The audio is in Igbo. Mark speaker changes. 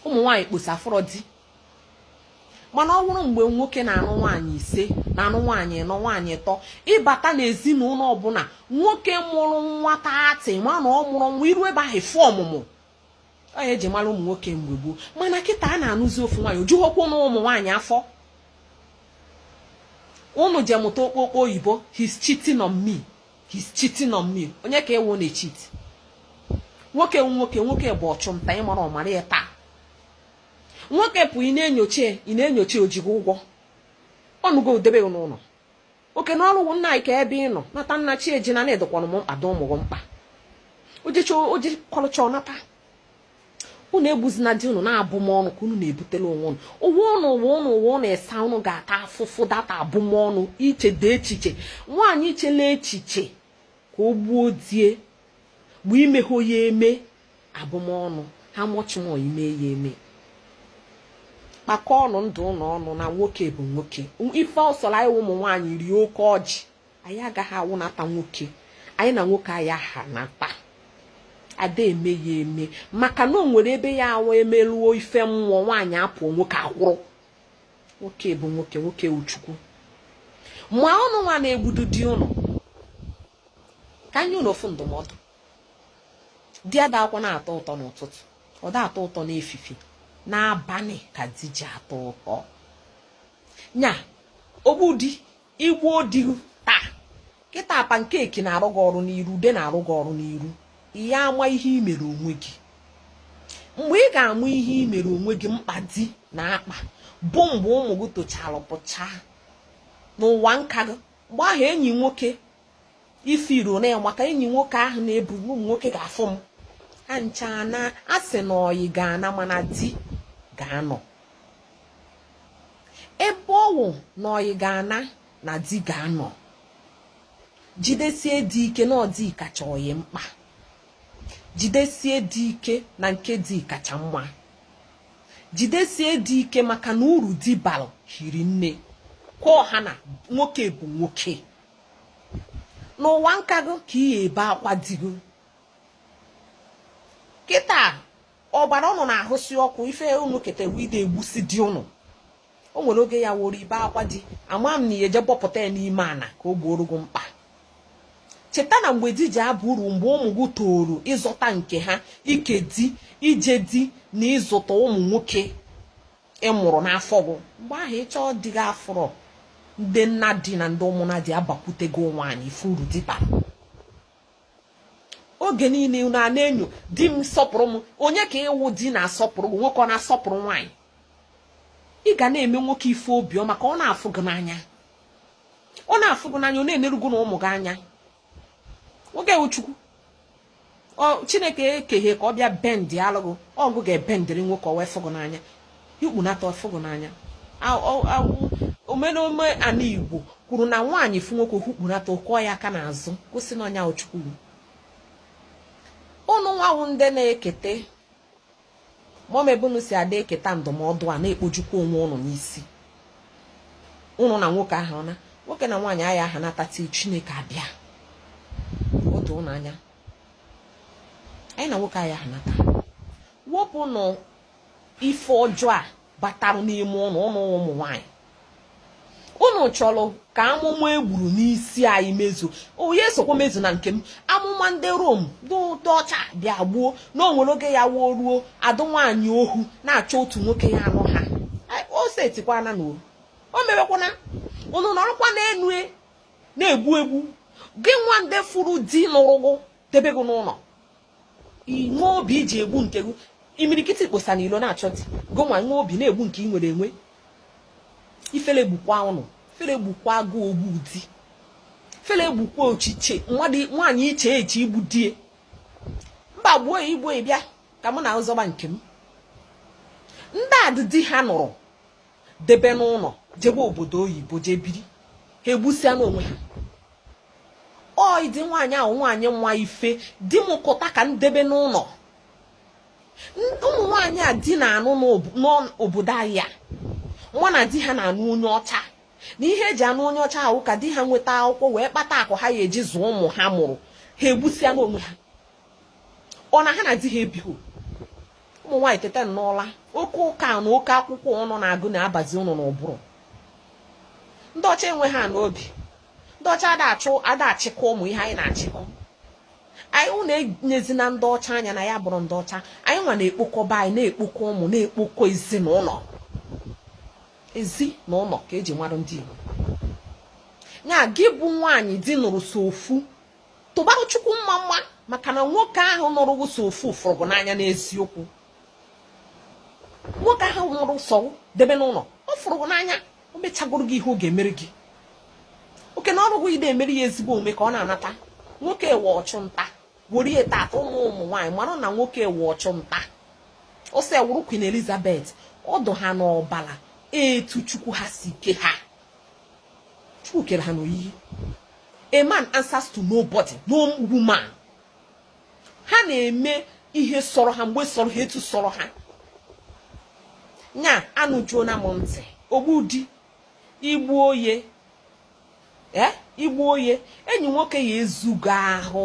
Speaker 1: ụmụ nwaanyị kposa afụrọ di mana ọ bụrụ mgbe nwoke na-anụ nwaanyị ise na-anụ nwaanyị ịnọ nwaanyị ịtọ ị bata n'ezinụlọ ọbụla nwoke mụrụ nwa thirty ma na ọ mụrụ nwa iru ebe ahụ fụ ọmụmụ ọ nya eji mara ụmụ nwoke mgbe gboo mana kịta a na-anụzi ofu nwaanyị o jughokwu ụnụ ụmụ nwaanyị afọ ụnụ je mụta okpokpo oyibo he's cheating on me he's cheating on me onye ka ị wụ na-echit nwoke nwoke nwoke bụ ọchụnta ị marọ mara ya taa nwoke pụ ị na-enyocha ị na-enyocha o ji gị ụgwọ ọ nụgo debe n'ụnọ oke na ọrụ nna anyị kee ebe ị nọ nata na chi ejina na ị dịkwanụ m mkpa dị ụmụ gị mkpa o jekọlụcha ọ nata unu egbuzina di unu na abụmọnụ ka unu na-ebutelụ onwe unu ụwa ụnụ ịsa unu ga-ata afụfụ data abụmọnụ ichedị echiche nwaanyị ichela echiche ka o gbuo di e bụ imehọ ya eme abụmọnụ how much more ime ya eme kpakọọnụ ndụ ụnụ ọnụ na nwoke bụ nwoke ife ọ sọrọ anyị ụmụ nwaanyị rie oke ọjị anyị agaghị awụnata nwoke anyị na nwoke aya ahanata a da eme ya eme maka na o nwere ebe ya awụ e meluo ife mmụọ nwaanyị apụọ nwoke akwụrụ nwoke bụ nwoke nwoke wụ chukwu ma ụnụ nwa na-egbudu di ụnụ ka m nye ụnụ ofu ndụmọdụ di adakwanụ atọ ụtọ n'ụtụtụ ọ da atọ ụtọ n'efifi n'abalị ka di ji atọ ụtọ nya ogbu di i gbuo di taa kịta pancake na-arụ gị ọrụ n'iru ude na-arụ gị ọrụ n'iru ị ya ama ihe i mere onwe gị mgbe ị ga-ama ihe i mere onwe gị mkpa di na akpa bụ mgbe ụmụ gị tochara pụchaa n'ụwa nka gị mgbe ahụ enyi nwoke ị fụrọ one maka enyi nwoke ahụ na-ebu ụmụ nwoke ga-afụ m ha ncha na a sị na ọyị ga-ana mana di ga-anọ ebe ọ wụ na ọyị ga-ana na di ga-anọ jidesie di ike na ọ di kacha ọyị mkpa jidesie di ike na nke di kacha mma jidesie di ike maka na uru di balụ hiri nne ka ọ ha na nwoke bụ nwoke n'ụwa nka gị ka ị ya-ebe akwa di gị kịta ọbara ụnụ na-ahụsi ọkụ ife ụnụ keta wide egbusi di ụnụ o nwere oge ya-awụrụ i bee akwa di ama m na ị ya-eje bọpụta ya n'ime ana ka o gboro gị mkpa cheta na mgbe di ji abụ uru mgbe ụmụ gị toro ịzụta nke ha ike di ije di na ịzụta ụmụ nwoke ị mụrụ n'afọ gị mgbe ahụ ị chọọ di gị afụrọ ndị nna di na ndị ụmụnna di abakwute gị nwaanyị ife uru di bara oge niile unu a na-enyo di m sọpụrụ m onye ka ị wụ di na-asọpụrụ gị nwoke ọ na-asọpụrụ nwaanyị ị ga na-eme nwoke ife obiọma ka ọ na-afụ gị n'anya ọ na-afụ gị n'anya ọ na-eneru gị na ụmụ gị anya nwoke wụ chukwu chineke ekeghe ka ọ bịa bendịalụ gụ ọ gụ ga-ebendịrị nwoke ọ wee fụ gụ n'anya i hukpunata ọ fụ gụ n'anya omenome ana igbo kwuru na nwaanyị fụ nwoke o hukpunata kụọ ya aka n'azụ gosi na ọ nya wụ chukwu ụnụ nwa wụ ndị na-ekete mọm ebe unu si ada eketa ndụmọdụ a na-ekpojukwa onwe ụnụ n'isi ụnụ na nwoke ha na nwoke na nwaanyị agha aha nhata till chineke abịa otu ụnụ anya anyị na nwoke agha aha nhata wepụnụ ife ọjọọ a batarụ n'ime ụnụ ụnụ ụmụ nwaanyị ụnụ chọrọ ka amụma e gburu n'isi anyị mezu ọ ya-esokwa mezu na nke m amụma ndị rom ndị ọcha bịa gbuo na o nwere oge ya wụ o ruo a dụ nwaanyị ohu na-achọ otu nwoke ya anụ ha o setikwana na o mewekwana ụnụ nọrọkwa n'enu e, na-egbu egbu gị nwa ndị fụrụ di nụrụ gụ debe gị n'ụlọ i nwe obi i ji egbu nke gị imirikiti kposa na ilo na-achọ di gị nwa nwe obi na-egbu nke ị nwere enwe ifele gbukwa ụnụ ifele gbukwaa gụ ogbu di ifele gbukwa echiche nwaanyị iche eche igbu di e mba gbuo ya igbo bịa ka m na-azọba nke m ndị a di di ha nụrụ debe n'ụlọ jebe obodo oyibo jee biri ha egbusịa n'onwe ha ọ ịdị nwaanyị wụ nwaanyị ma ife di m kụta ka m debe n'ụlọ ụmụ nwaanyị a di na-anụ n'obodo anyị ama na di ha na-anụ onye ọcha na ihe e ji anụ onye ọcha wụ ka di ha nweta akwụkwọ wee kpata akụ ha ya eji zụọ ụmụ ha mụrụ ha egbusịa n'onwe ha ọ na ha na di ha ebighị ụmụ nwaanyị teta n'ụla oke ụka na oke akwụkwọ ụnụ na-agụ na-abazi ụnụ n'ụbụrụ ndị ọcha enwehanụ obi ndị ọcha ada achịkọ ụmụ ihe anyị na-achịkọ anyị ụnụ enezina ndị ọcha anya na anyị abụrọ ndị ọcha anyị nwa na-ekpokọ be anyị na-ekpokọ ụmụ na-ekpokọ ezinụlọ ezi na ụlọ ka e ji mara ndị Igbo ya gị bụ nwaanyị di nụrụ so ofu tụbarụ chukwu mma mma maka na nwoke ahụ nụrụ gị sọ ofu fụrụ gị n'anya n'eziokwu nwoke ahụ nụrụ sọ debe n'ụlọ ọ fụrụ gị n'anya o mechagoro gị ihe ọ ga-emere gị oke na ọrụ gị ide emere ya ezigbo omume ka ọ na-anata nwoke wụ ọchụ nta were ya tata ụmụ ụmụ nwaanyị mara na nwoke wụ ọchụ nta ọ sị ị wụrụ Queen Elizabeth ọ dụ ha n'ọbala etu chukwu ha si ke ha chukwu kere ha n'oyiyi a man answers to nobody no woman ha na-eme ihe sọrọ ha mgbe sọrọ ha etu sọrọ ha nya anụjuona m ntị igbu di igbu ọyị ee eh, igbu ọyị enyi nwoke ya ezugo ahụ